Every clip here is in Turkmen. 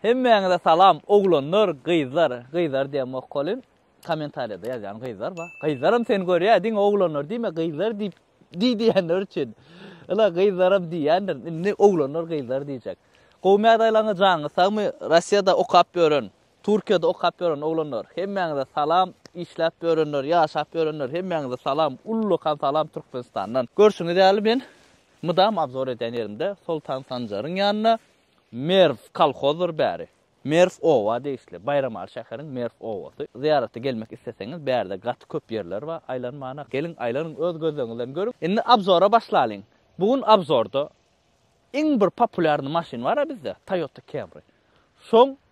Hemmäňize salam oglanlar gyzlar gyzlar diýemok kolin komentariýada ýazýan gyzlar ba gyzlaram seni görýä diňe oglanlar diýme gyzlar diýip diý diýenler üçin ila gyzlaram diýýändir indi oglanlar gyzlar diýjek gowy mädaýlaňyz janyňyz sagmy rossiýada okap ýören turkiýada okap ýören oglanlar hemmäňize salam işläp ýörenler ýaşap ýörenler hemmäňize salam ullakan salam türkmenistandan görşüňiz ýaly men mydam abzor edýän ýerimde soltan sanjaryň ýanyna Merw kolhozdyr bäri. Merw oba degişli. Baýramaly şäheriň Merw obasy. Zyýarata gelmek isleseňiz bärde gaty köp ýerler bar, aýlanmana. Geliň aýlanyň öz gözleňiz bilen görüň. Indi abzora başlalyň. Bu gün abzorda iň bir populýarny maşyn bara bizde Toyota Camry. Şoň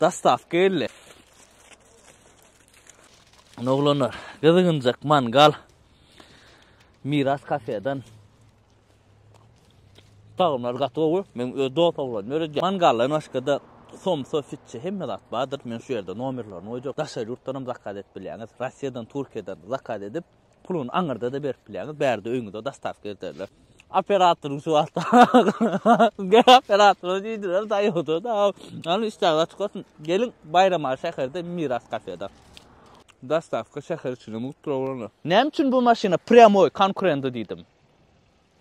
Dastavka geldi. Oglanlar, gyzygynjak mangal. Miras kafedan. Tagymlar gaty gowy. Men öz dost oglan ýöredýän. Mangaldan başga da somsa, fitçi hemme zat bardyr. Men şu ýerde nomerlerini goýjak. Daşary ýurtdan hem zakaz edip bilýäňiz. Russiýadan, Türkiýeden zakaz edip Puluny aňyrda-da berip bilýäňiz, bärde öýüňize dostawka elterler. Operatoryň şu wagt Gel operatora diýdiler, daýoda-da. Ýöne işdäňiz açyk bolsun. Geliň Baýramaly şäherde Miras kafeda. Dostawka şäher içinde mugt programlar. Näme üçin bu maşyna prýamoý konkurenta diýdim?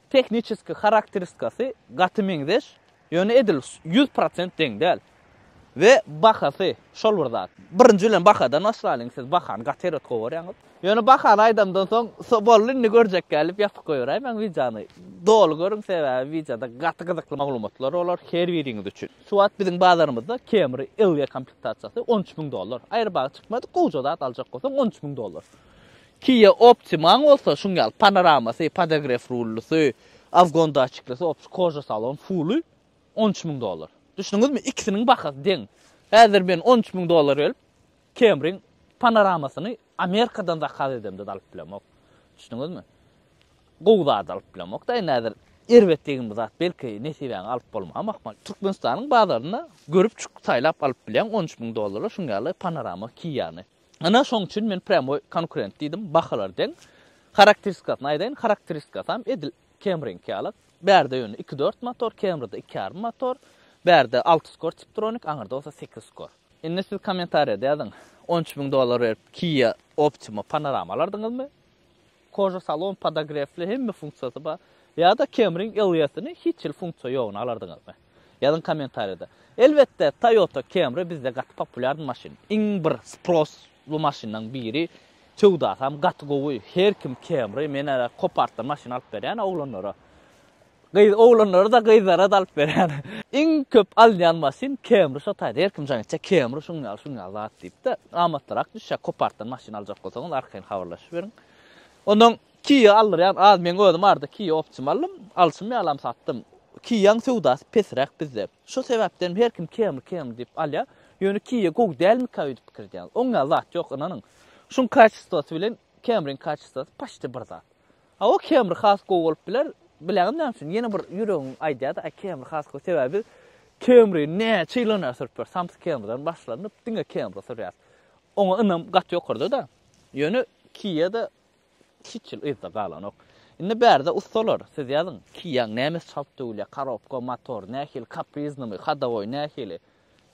Tehniçeskiý harakteristikasy gaty meňzeş, ýöne edil ýüz prosent deň däl. We bahasy şol bir zat. Birinji bilen bahadan başlalyň, siz bahany gaty erbet gowarýaňyz. Ýöne bahany aýdamdan soň, boldy indi görjekgä diýip ýatyp goýberäýmäň wideony. Doly görüň, sebäbi wideoda gaty gyzykly maglumatlar bolar her biriňiz üçin. Şu wagt biziň bazarymyzda Camry LE komplektasiýasy on üç müň dollar. Aýrybagy çykmady, gowja zat aljak bolsaň on üç müň dollar. Kia Optima-ň bolsa şuň ýaly panoramasy, podagref rullusy, afgon datçiklisy, opçy koža salon, puly on üç müň dollar. Düşdüňizmi, ikisiniň bahasy deň. Häzir men on üç müň dollar berip, Camry-ň panoramasyny Amerikadan zakaz edemde-de alyp bilemok. Düşdüňizmi? Gowy zady alyp bilemok-da indi häzir. Erbet degen bir zat belki nesibäňe alyp bolmam ahmal. Türkmenistanyň bazarynda görüp çykyp saýlap alyp bilýäň on üç müň dollara şuň ýaly panorama Kia-ny. Ana şoň üçin men prýamoý konkurent diýdim, bahalar deň. Harakteristikasyny aýdaýyn, harakteristikasam edil Camry-niňki ýaly. Bärde ýöne iki dört motor, Camry-da iki ýarym motor. Bärde alty skor Tiptronic, aňyrda bolsa sekiz skor. Indi siz kommentariýada ýazyň, on üç müň dollar berip Kia Optima Panorama alardyňyzmy? Koja salon podogrefli hemme funksiýasy bar. Ýa-da Camry-iň Elliot-yny hiç hili funksiýa ýogyny alardyňyzmy? Ýazyň kommentariýada. Elbetde Toyota Camry bizde gaty populýar maşyn. Iň bir sprossly maşynlaryň biri. Söwdasam gaty gowy. Her kim Camry, men ara kop artdan maşyn alyp berýän oglanlara. Gyz oglanlara-da, gyzlara-da alyp berýän. Iň köp alynýan maşyn Camry şo taýda her kim jaň etjek Camry şuň ýaly şuň ýaly zat diýipde amatlyrak düşýär kopartdan maşyn aljak bolsaňyz arkaýyn habarlaşyp beriň. Ondan Kia aldyrýan az meň özüm arada Kia optium aldym alşym ýalam satdym Kiaň söwdasy pesräk bizde şo sebäpdenem her kim Camry Camry diýip alýar ýöne Kia gowy dälmika öýdüp pikir edýän oň ýaly zat ýok ynanyň şuň kaçestwasy bilen Camryň kaçestwasy paçte bir zat. Hawa kemri has gowy bolup biler, bileňiz näme üçin? Ýene bir ýüregim aýdýardy, aý kemri has gowy, sebäbi biz kemri näçe ýyl öňe sürüp ýörüs, samsyk kemriden başlanyp diňe kemri sürýäris. Oňa ynam gaty ýokarda-da. Ýöne Kia-da hiç ýyl yzda galanok. Indi bärde ussalar, siz ýazyň, Kia-nyň nämesi çalt döwülýär, korobka, motor nähili, kapriznymy, hodowoý nähili?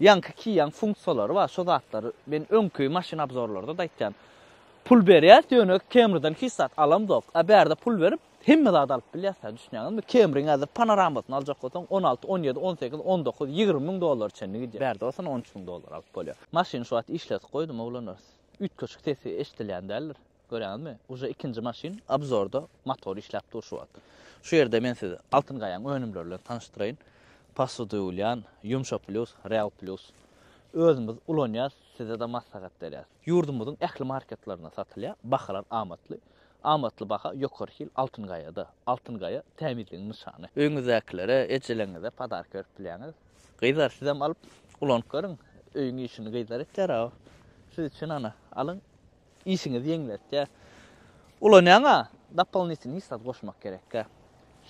Ýaňky kiýýän funksiýalary bar şo zatlary men öňki maşyn abzorlarda-da aýtýan. Pul berýäs ýöne Camry-dan hiç zat alamzok. A bärde pul berip hemme zady alyp bilýäs-ä düşünýäňizmi? Camry-ň häzir panoramasyny aljak bolsaň on alty, on ýedi, on sekiz, on dokuz, ýigrimi müň dollara çenli gidýär. Bärde bolsa on üç müň dollara alyp bolýar. Maşyny şu wagt işledip goýdum oglanlar. Üýtgeşik sesi eşidilýän däldir. Görýäňizmi? Uje ikinji maşyn obzorda motor işläp dur şu wagt. Şu ýerde men sizi Altyn gaýaň önümleri bilen tanyşdyraýyn. Posudylýan, Yumsha plus, Real plus. Özümiz ulanýas, size-de maslahat berýäs. Ýurdumyzyň ähli marketlerinde satylýar, bahalar amatly. Amatly baha ýokary hil Altyn gaýada. Altyn gaýa, tämizligiň nyşany. Öýüňizdäkilere, ejeleňize podarka berip bilýäňiz. Gyzlar sizem alyp ulanyp görüň. Öýüň işini gyzlar etýär-aw. Siz üçin ana, alyň. Işiňizi ýeňletýär. Ulanýaňa dopolinitelnyý zat goşmak gerekkä.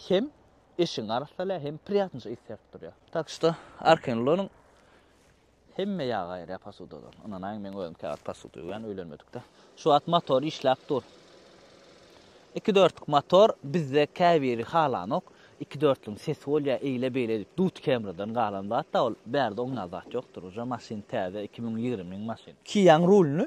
Hem eşigiňi arassalýar, hem priýatnyja ys berip durýar. Tak şto, Arkenlonyň hemme ýagy aýyrýar posudadan. Ynanaýyň, meň özüm käwagt posuda ýuwýan, öýlenmedikde. Şu wagt motor işläp dur. Iki dörtlük motor bizde käbiri halanok. Iki dörtlügiň sesi bolýar, eýle-beýle edip dut kemriden galan zat-da ol. Bärde oňňan zat ýokdur. Uje maşyn täze, iki müň ýigriminiň maşyny. Kiaň rulyny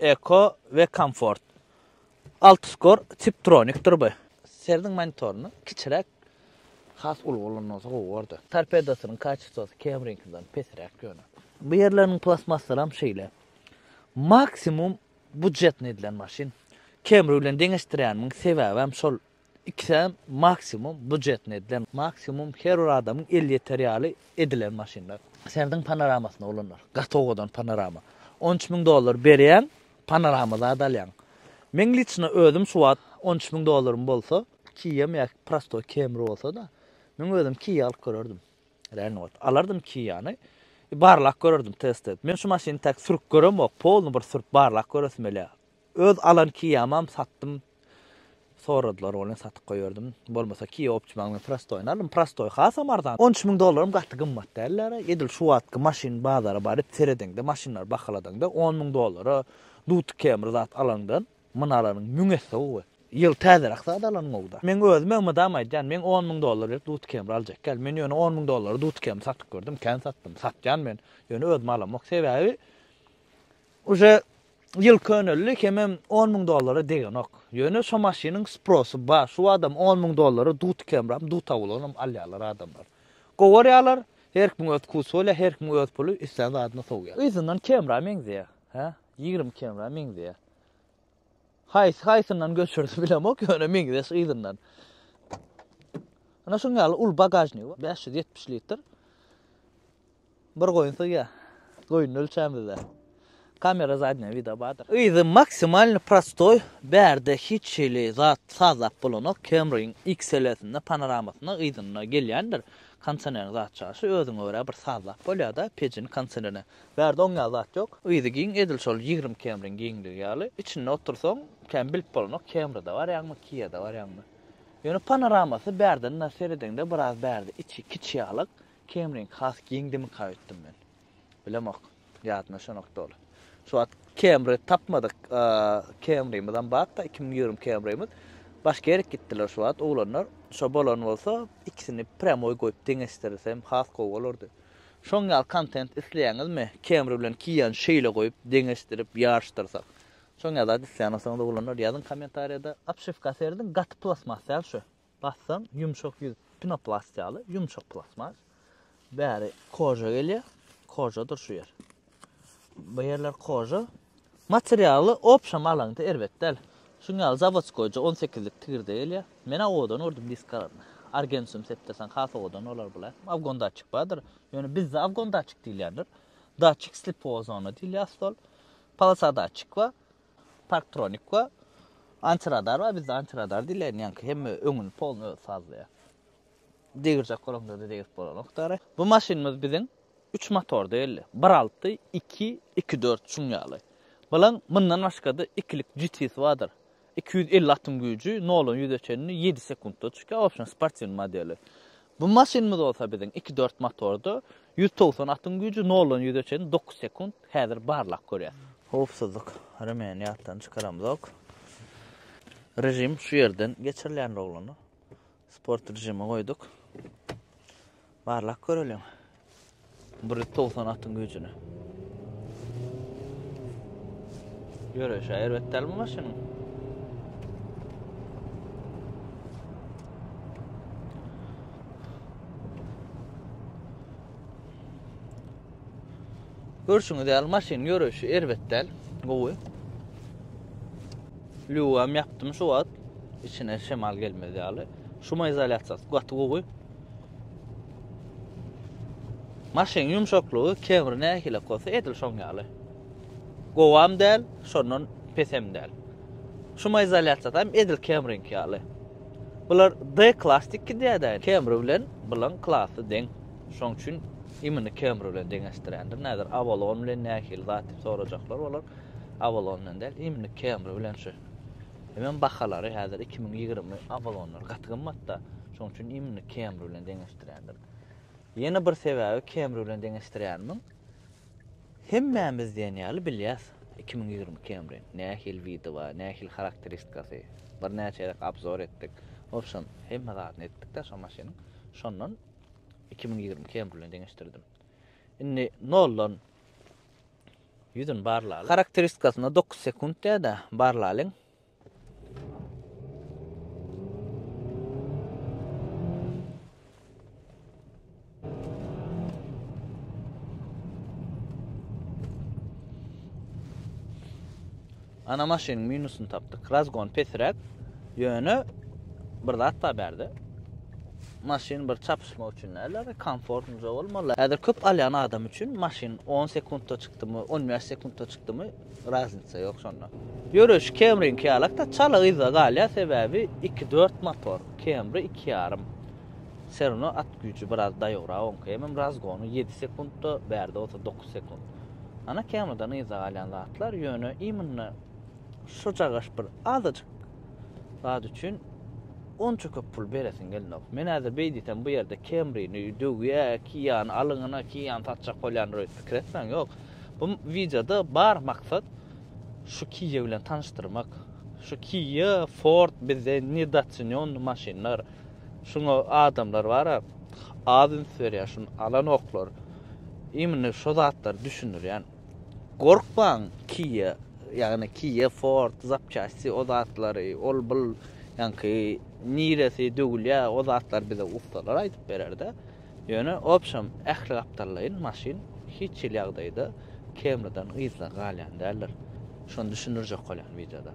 Eko we Komfort. Altuscore Tiptronikdir bu. Serdiň monitoryny kiçiräk has uly bolan bolsa gowy bordy. Torpedosynyň kaçestosy KM-niňkinden pesräk ýöne. Bu ýerleriniň plastmassaram şeýle. Maksimum budjetny edilen maşyn. Camry bilen deňeşdirýänimiň sebäbem şol Ikisem maksimum bujetne edilen, maksimum her bir adamyň eli ýeter ýaly edilen maşynlar. Serdiň panoramasyna bolanlar, gaty owadan panorama. On üç müň dollar berýäň, panorama zat alýaň. Meň liçno özüm şu wagt on üç müň dollarym bolsa, Kia-m ýa prostoý Camry bolsa-da, meň özüm Kia alyp görerdim. Realny wagt. Alardym Kia-ny. Barlap görerdim, test edip. Men şu maşyny täk sürüp göremok, polny bir sürüp barlap göresim gelýär. Öz alan Kiamam satdym. Soradylar welin satyp goýardym. Bolmasa Kia Optima-nyň prostoýyny aldym. Prostoý hasam arzan. On üç müň dollaram gaty gymmat däl däl-ä. Edil şu wagtky maşyn bazara baryp seredeňde, maşynlary bahaladaňda on müň dollara duty kemri zat alaňdan muny alanyň müň esse gowy. Ýyl täzeräk zat alanyň gowy-da. Meň özüm hem mydama aýdýan, men on müň dollar berip duty kemri aljak däl. Men ýöne on müň dollara duty kemri satyp gördüm, kän satdym. Satýan men. Ýöne özüm alamok. Sebäbi uje ýyl köneldi, kemem on müň dollara degenok. Ýöne şo maşynyň sprosu bar, şu badam on müň dollara duty kemram, duta bolanam alýarlar adamlar. Gowarýarlar, her kimiň öz wkusy bolýar, her kimiň öz puly, islän zadyna sowýar. Yzyndan kemra meňzeýär, hä, ýigrimi kemra meňzeýär. Haýsy haýsyndan göçürdi bilemok, ýöne meňzeş yzyndan. Ana şuň ýaly uly bagažnigi bar, bäş ýüz ýetmiş litr. Bir goýun syýa. Goýuny ölçän bizde. Kamera zadnyýa wideo bardyr. Yzy maksimalny prostoý bärde hiç hili zat sazlap bolanok Camryn XLSinde panaramasynda yzynda gelýändir kondisionerin zat çaşy özüňe görä bir sazlap bolýada pejini kondisionerine bärde oň ýaly zat ýok yzy giň edil şol ýigrimi Camryn giňligi ýaly içinde otursaň kän bilip bolanok Camryda barýaňmy Kia-da barýaňmy ýöne panaramasy bärden seredeňde biraz bärde içi kiçi ýalyk Kemring has giňdimika öýtdüm men. Bilemok. Ýadyma şonok doly. Şu wagt Kemri tapmadyk. Kemrimizem bakda 2020 Kemrimiz. Başga ýere gitdiler şu wagt oglanlar. Şo bolan bolsa ikisini prýamoý goýup deňeşdirsem has gowy bolardy. Şoň ýaly kontent isleýäňizmi? Kemri bilen Kiýany şeýle goýup deňeşdirip ýaryşdyrsak. Şoň ýaly zat isleýän bolsaňyz oglanlar ýazyň kommentariýada. Obşewka serediň gaty plastmas däl şu. Bassaň ýumşak ýüz pinoplast ýaly ýumşak plastmas. Bäri koja gelýär. Kojadyr şu ýer. Bu ýerler koja. Materialy opşam alaňda erbet däl. Şuň ýaly zawodskoýja 18-lik tigirde gelýär. Men awodan gördüm diskalaryny. Argensum septesan has owadan bolar bula. Awgon datçik bardyr. Ýöne bizde awgon datçik diýilýändir. Datçik slipowa zona diýilýär stol. Polasa datçik bar. Parktronik we antiradar bar. Bizde antiradar diýlen ýaňky hemme öňüni polny özi sazlaýar. Degirjek bolanda-da degirip bolanok dara. Bu maşynymyz biziň üç motor däldi. Bir alty, iki, iki dört şuň ýaly. Bilen mundan başga-da ikilik GT-si bardyr. Iki ýüz elli atym güýji, noldan ýüze çenli ýedi sekuntda çykýar, wobşem sportiwnyý modeli. Bu maşynymyz bolsa biziň iki dört motorda ýüz togsan atyň güýji noldan ýüze çenli dokuz sekunt häzir barlag görýär. Howpsuzlyk remeni ýatdan çykaramzok. Režim şu ýerden geçirilýändir oglana. Sport režimi goýduk. Barlag göreliň. Bir towsan atyň güýjüne. Ýöreýşi erbet dälmi maşynyň? Görşüňiz ýaly maşyn ýöreýşi erbet däl, gowy. Lüwem ýapdym şu wagt. Içine şemal gelmez ýaly. Şuma izolýasiýasy gaty gowy. Maşynyň ýumşaklygy kebir nähili bolsa edil şoň ýaly. Gowam däl, şondan pesem däl. Şumaizolýasiýasy hem edil kemriňki ýaly. Bular D klass iki diýädä. Kemri bilen bulan klasy deň. Şoň üçin imini kemri bilen deňeşdirýändir. Näder Avalon bilen nähili zat diýip sorajaklar olar. Avalon bilen däl, imini kemri bilen şu. Hemem bahalary häzir iki müň ýigrimi abalonlar gaty gymmatda. Şoň üçin immini Camry bilen deňeşdirýändim. Ýene bir sebäbi Camry bilen deňeşdirýänimiň hemmämiz diýen ýaly bilýäs iki müň ýigrimi Camry nähili widowa, nähili harakteristikasy. Birnäçe gezek abzor etdik. Wobşem, hemme zadyny etdik-de şo maşynyň. Şondan iki müň ýigrimi Camry bilen deňeşdirdim. Indi noldan Ýüzüni barlalyň. Harakteristikasyna dokuz sekunt diýer-de, barlalyň. Ana maşynyň minusyny tapdyk. Razgon pesiräk. Ýöne bir zat bar bärde. Maşyn bir çapyşmak üçin däl-de, bir komfortnyja bolmaly. Häzir köp alýan adam üçin maşyn on sekuntda çykdymy, on bäş sekuntda çykdymy, razniça ýok şonda. Ýöreýşi Camry-niňki ýalak-da, çala yzda galýar, sebäbi iki dört motor, Camry iki ýarym. Ser ino at güýji biraz daýowrak oňky. Hemem Razgony ýedi sekuntda, bärde bolsa dokuz sekunt. Ana kemadan yza galýan zatlar, ýöne imynda şojagaş bir azajyk zat üçin onça köp pul beresiň gelnok. Men häzir beý diýsem bu ýerde kemrini döwýä, ki ýany alyňyna, ki ýany satjak bolýandyr öýüp pikir etmäň, ýok. Bu wideoda bar maksat şu Kia bilen tanyşdyrmak. Şu Kia, Ford bizde nedocenionny maşynlar. Şuňa adamlar bara az üns berýär şun alanoklar imini şo zatlary düşündirýän gorkmaň kia ýagny kia ford zapçasti o zatlary ol bul ýaňky niresi döwülýär o zatlar bize ussalar aýdyp bererde. Ýöne obşem ähli gapdallaýyn maşyn hiç hili ýagdaýda kemriden yzda galýan däldir. Şony düşündirjek bolýan wideoda.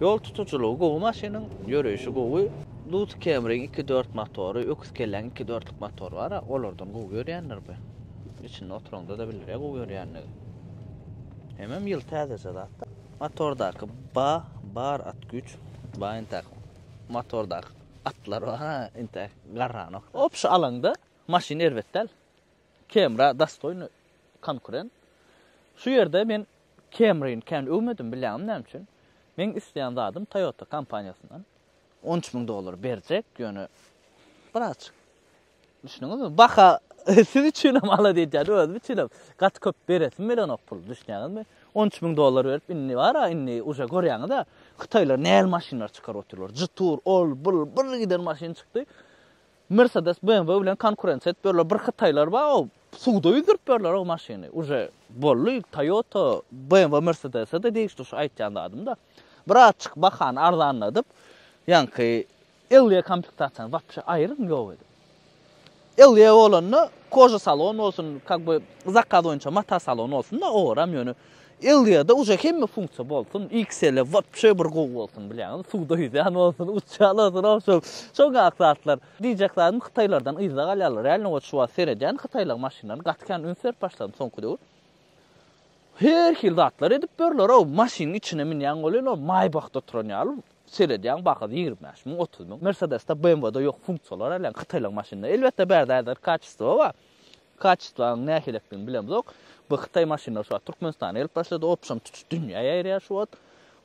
Ýol tutujylygy gowy maşynyň, ýöreýşi gowy. Duz kemriň iki dört motory, öküz kelläň iki dörtlük motory bara, olardan gowy ýörýändir bu. Içinde oturanda-da biler-ä gowy ýörýänini. Hemem ýyl täzeje zat-da. Motordaky ba bar at güýç, ba entäk motordaky. Atlar bar ha intäk garranok. Opşy alaňda maşyn erbet däl. Kemra dastoýny konkurent. Şu ýerde men Kemryny kän öwmedim bilýäňmi näme üçin? Meň isleýän zadym Toyota kompaniýasyndan. On üç müň dollar berjek, ýöne birazjyk Düşündiňizmi? Baha siz üçin hem alada edýän, özüm üçin hem gaty köp beresim bilenok pul, düşünýäňizmi? On üç müň dollar berip, indi bar-a, indi uje görýäňiz-ä, hytaýlar nähili maşynlar çykaryp otyrlar, Jetour, ol, bul, bir giden maşyn çykdy. Mercedes, BMW bilen konkurensiýa edip ýörler, bir hytaýlar bar-ow, suwda ýüzdürip ýörler o maşyny, uje boldy, Toyota, BMW, Mercedes-e-de degişli şu aýtýan zadym-da. Birazçyk bahany arzanladyp, ýaňky Elliye komplektasyýany wapşe aýyryň ýok edip. Elliye bolanda koja salon bolsun, kak by zakaz boýunça mata salon bolsun-da owaram ýöne Elliýede uje hemme funksiýa bolsun, XL-e wapşe bir gowy bolsun bilýäňizmi, suwda ýüzýän bolsun, uçýan bolsun owşo şoňak zatlar. Diýjek zadym hytaýlardan yzda galýarlar, reально wot şu wagt seredýän hytaýlaň maşynlaryny gaty kän üns berip başladym soňky döwür. Her hil zatlar edip ýörler-ow, maşynyň içine münýäň welin ol maýbahda oturan ýaly Seredýäň baha ýigrimi bäş müň, otuz müň. Mersedesde, BMW-de ýok funksiýalar älem, hytaýlaryň maşynynda. Elbetde, bärde aýdar kaçestwo bar. Kaçestwanyň nähilidigini bilemzok. Bu hytaý maşynlary şu wagt Türkmenistana gelip başlady, opşam tutuş dünýä ýaýraýar şu wagt.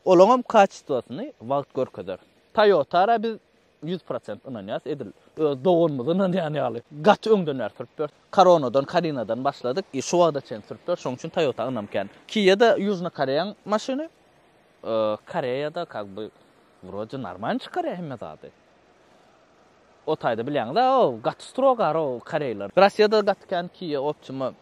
Olaňam kaçestwosyny wagt görkezer. Toyota-a biz ýüz prosent ynanýarys, edil öz doganymyza ynanýan ýaly. Gaty öňden bäri sürüp ýörüs. Koronadan, Karinadan başladyk, şu wagta çenli sürüp ýörüs. Şonuň üçin Toyota ynam kän. Kia-da Ýužnokoreýaň maşyny. Koreýada kak by wrode normalny çykarýar hemme zady. O taýda bilýäňiz-ä o gaty strogar o koreýler. Rossiýada gaty kän Kia Optima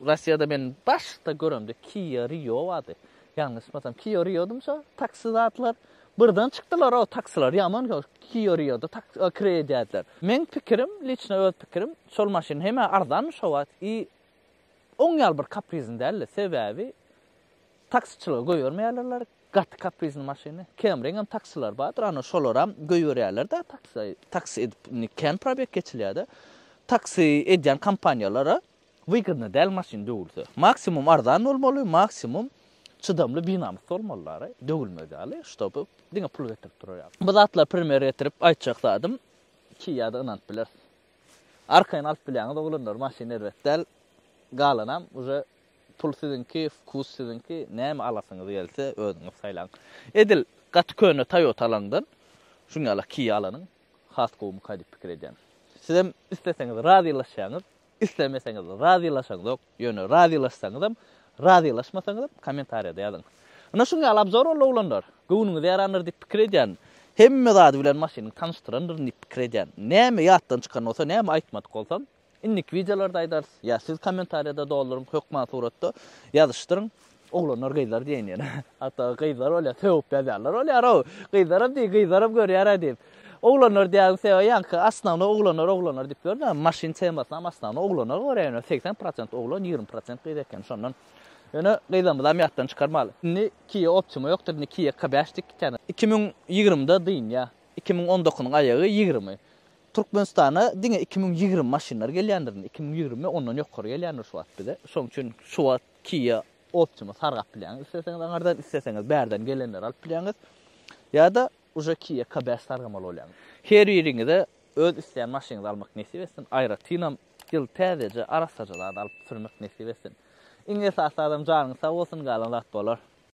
Rossiýada men başda göremde Kia Rio bardy. Ýalňyşmasam Kia Riodymy şo taksi zatlar. Birden çykdylar o taksiler ýaman köp Kia Rioda tak kireý edýärdiler. Meň pikirim liçno öz pikirim şol maşyn hemä arzanmy şo wagt i Oň ýaly bir kaprizini däldi, sebäbi taksiçilige goýbermeýärlerler gaty kaprizini maşyny. Kemriňem taksileri bardyr, ana şolaram goýberýärler-de taksi, taksi edip indi kän probeg geçilýär-de. Taksi edýän kompaniýalara wygodny däl maşyn döwülse. Maksimum arzan bolmaly, maksimum çydamly binamys bolmalylar-a, döwülmez ýaly, ştoby diňe pul getirip durar ýaly. Bu zatlary premýer getirip aýtjak zadym, ki ýa-da ynanyp bileris. Arkaýyn alyp bilýäňiz oglanlar maşyn erbet däl galanam uje pul siziňki wkus siziňki näme alasyňyz gelse özüňiz saýlaň edil gaty köne toyota alaňdan şuň ýala kia alanyň has gowumyka diýip pikir edýän sizem isleseňiz razylaşýaňyz islemeseňiz razylaşaňzok Ýöne razylaşsaňyzam, razylaşmasaňyzam kommentariýada ýazyň. Ine şuň ýaly obzor boldy oglanlar. Göwnüňiz ýarandyr diýip pikir edýän. Hemme zady bilen maşynyňy tanyşdyrandyryn diýip pikir edýän. Näme ýatdan çykan bolsa, näme aýtmadyk bolsam, indiki wideolarda aýdarys. Ýa siz kommentariýada dolduryň, hökman suratda ýazyşdyryň. Oglanlar gyzlar diýen ýene. Hatda gyzlar bolýar, sögüp ýazýarlar bolýar-ow. Gyzlaram diý, gyzlaram görýär-ä diýip. Oglanlar diýýäň sebäbi ýaňky osnownoý oglanlar oglanlar diýip ýörün-ä. Maşyn temasyny hem osnownoý oglanlar görýär ýöne segsen prosent oglan, ýigrimi prosent gyz eken şondan. Ýöne gyzlarymyzam ýatdan çykarmaly. Indi Kia Optima ýokdur, indi Kia K bäş dik eken. Iki müň ýigrimide dynýar. Iki müň on dokunyň aýagy ýigrimi. Türkmenistana diňe iki müň ýigrimi maşynlar gelýändir indi. Iki müň ýigrimi ondan ýokary gelýändir şu wagt bize. Şoň üçin şu wagt Kia Optima sargap bilýäňiz isleseňiz aňardan, isleseňiz bärden gelenleri alyp bilýäňiz. Ýa-da uje Kia K-Best sargamaly bolýaňyz. Her biriňize öz isleýän maşynyňyzy almak nesip etsin, aýratynam ýyl täzeje arassaja zat alyp sürmek nesip etsin. Iň esasy zadam janyňyz sag bolsun, galan zat bolar.